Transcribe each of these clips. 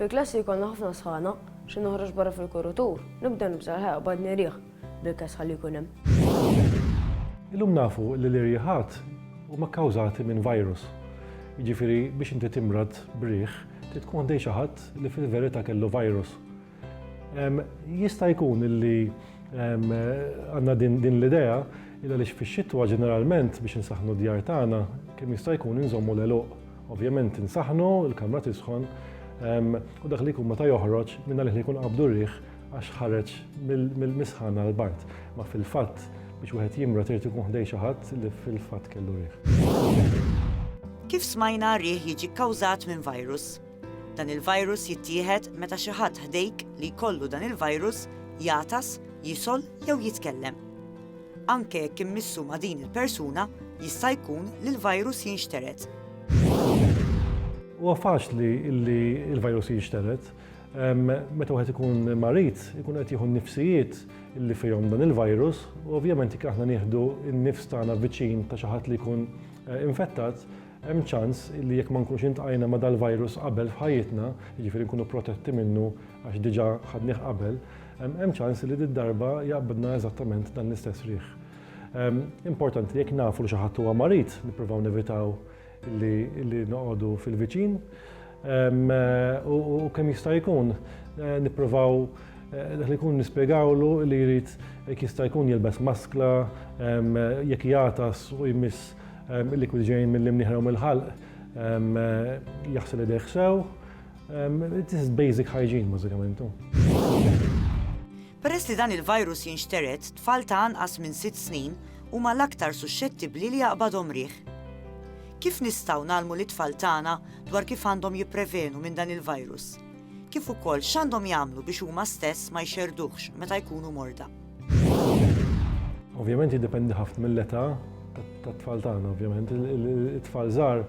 Fil-klassi jkollna ħafna sħana, xi noħroġ barra fil-kurutur, nibda nibża' l-ħajja qabad nirjieħ bil-kesħa li jkun hemm. Illum nafu li l-irjieħat huma kkawżati minn virus. Jiġifieri biex inti timrad b'riħ trid tkun ħdejn xi ħadd li fil-verità kellu virus. Jista' jkun li għandna din l-idea illa li fix-xitwa ġeneralment biex insaħħnu d-djar tagħna kemm jista' jkun inżommu l-għeluq. Ovvjament insaħħnu, il-kamra tisħon u dak li jkun meta joħroġ minn għalih li jkun qabdu riħ għax ħareġ mill-misħan għal bard. Ma fil-fatt biex wieħed jimra trid ikun ħdej xi ħadd li fil-fatt kellu riħ. Kif smajna riħ jiġi kkawżat minn virus. Dan il-virus jittieħed meta xi ħadd ħdejk li jkollu dan il-virus jagħtas, jisgħol jew jitkellem. Anke jekk immissu ma' din il-persuna, jista' jkun li l-virus jinxtered. Huwa faċli li l-virus jinxtered. Meta wieħed ikun marid, ikun qed jieħu n-nifsijiet li fihom dan il-virus, u ovvjament jekk aħna nieħdu n-nifs tagħna viċin ta' xi ħadd li jkun eh, infettat, Hemm ċans li jekk ma nkunx iltqajna ma' dal-virus qabel f'ħajjitna, jiġifieri nkunu protetti minnu għax diġà ħadnih qabel, hemm ċans li did-darba jaqbdna eżattament dan l-istess riħ. Importanti li jekk nafu li xi ħadd huwa marid, nippruvaw nevitaw li noqogħdu fil-viċin u kemm jista' jkun nippruvaw dak li jkun nispjegawlu li jrid jekk jista' jkun jilbes maskla, jekk jagħtas u jmiss Il-likwidi ġejjin mill-imnieħer u mill-ħalq jaħsel idejh sew. It is basic hygiene bażikament. Peress li dan il-virus jinxtered, tfal ta' anqas minn sitt snin huma l-aktar suxxettibbli li jaqbadhom riħ. Kif nistgħu ngħallmu lit-tfal tagħna dwar kif għandhom jipprevenu minn dan il-virus? Kif ukoll x'għandhom jagħmlu biex huma stess ma jxerrduhx meta jkunu morda? Ovvjament jiddependi ħafna mill-età tat-tfal tagħna, ovvjament. It-tfal żgħar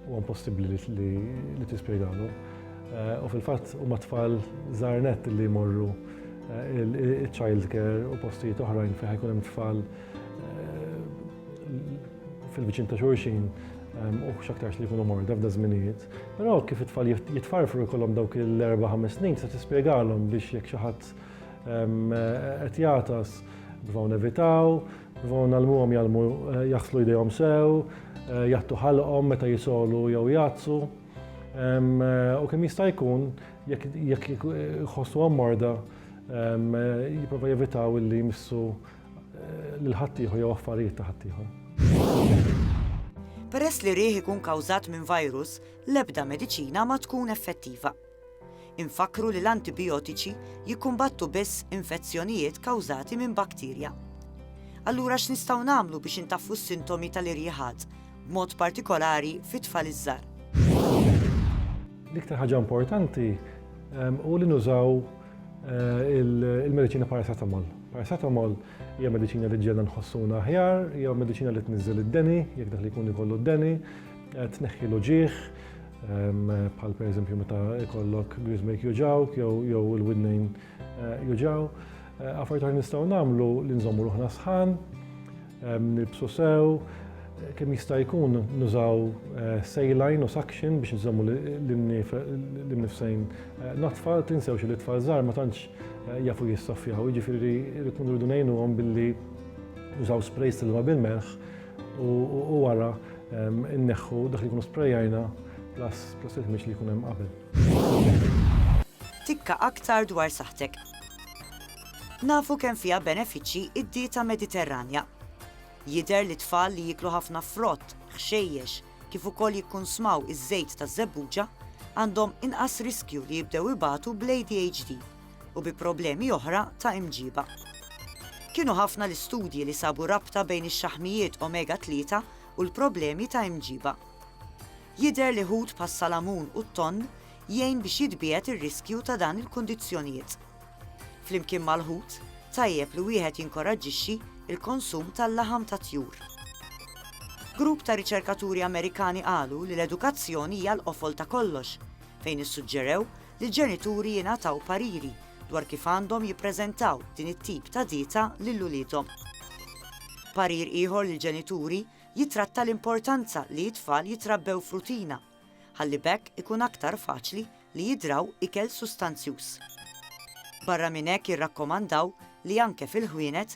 huwa impossibbli li tispjegalu. Eh, u fil-fatt huma tfal żgħar net li jmorru eh, il-child care u postijiet oħrajn fejn ħajkun hemm tfal eh, fil-viċin ta' xulxin u xaktarx li jkunu morda f'da żminijiet. Però kif it-tfal jitfarfru jkollhom dawk il-4-5 snin se tispjegalhom biex jekk xi ħadd Qed jagħtas, nipprovaw nevitaw, nipprovaw ngħallmuhom jgħallmu jaħslu jdejhom sew, jgħattu ħalqhom meta jisogħlu jew jgħattsu. U kemm jista' jkun jekk jħossuhom morda, jipprova jevitaw illi jmissu lil ħaddieħor jew affarijiet ta' ħaddieħor. Peress li riħ ikun kawżat minn virus, l-ebda mediċina ma tkun effettiva. Infakkru li l-antibijotiċi jikkumbattu biss infezzjonijiet kawżati minn bakterja. Allura x'nistgħu nagħmlu biex intaffu s-sintomi tal-irjiħat, b'mod partikolari fit-tfal iż-żgħar? L-iktar ħaġa importanti hu li nużaw il-mediċina paracetamol. Paracetamol hija mediċina li ġġielna nħossuna aħjar, hija mediċina li tniżżel id-deni, jekk dak li jkun ikollu d-deni, Tneħħi l-uġigħ, bħal pereżempju meta jkollok griżmek juġawk jew il-widnejn eh, juġaw. Eh, affarijiet oħra nistgħu nagħmlu li nżommu ruħna sħan, nibsu sew, eh, kemm jista' jkun nużaw sejlajn u saction biex nżommu l-nifsejn natfa, tinsewx li tfal żgħar ma tantx jafu jissoffjaw, jiġifieri rrid nridu ngħinuhom billi użaw sprays tal-ma bil-melħ u wara Inneħħu dak li jkunu sprejajna plus plus il-ħmieġ li jkun hemm qabel. Tikka aktar dwar saħtek. Nafu kemm fiha benefiċċji id-dieta Mediterranja. Jidher li tfal li jiklu ħafna frott, ħxejjex, kif ukoll jikkunsmaw iż-żejt taż-żebbuġa għandhom inqas riskju li jibdew ibatu bl-ADHD. u bi problemi oħra ta' imġiba. Kienu ħafna l-istudji li sabu rabta bejn ix-xaħmijiet omega 3 u l-problemi ta' imġiba. Jidher li ħut bħas-salamun u t-tonn jgħin biex jitbiegħed ir-riskju ta' dan il-kundizzjonijiet. Flimkien mal-ħut, tajjeb li wieħed jinkoraġġixxi l-konsum tal-laħam tat-tjur. Grupp ta' riċerkaturi Amerikani qalu li l-edukazzjoni hija l-qofol ta' kollox, fejn issuġġerew li l-ġenituri jingħataw pariri dwar kif għandhom jippreżentaw din it-tip ta' dieta lil uliedhom. Parir ieħor lill-ġenituri jittratta l-importanza li t-tfal jitrabbew f'rutina ħalli b'hekk ikun aktar faċli li jidraw ikel sustanzjuż. Barra minn hekk jirrakkomandaw li anke fil-ħwienet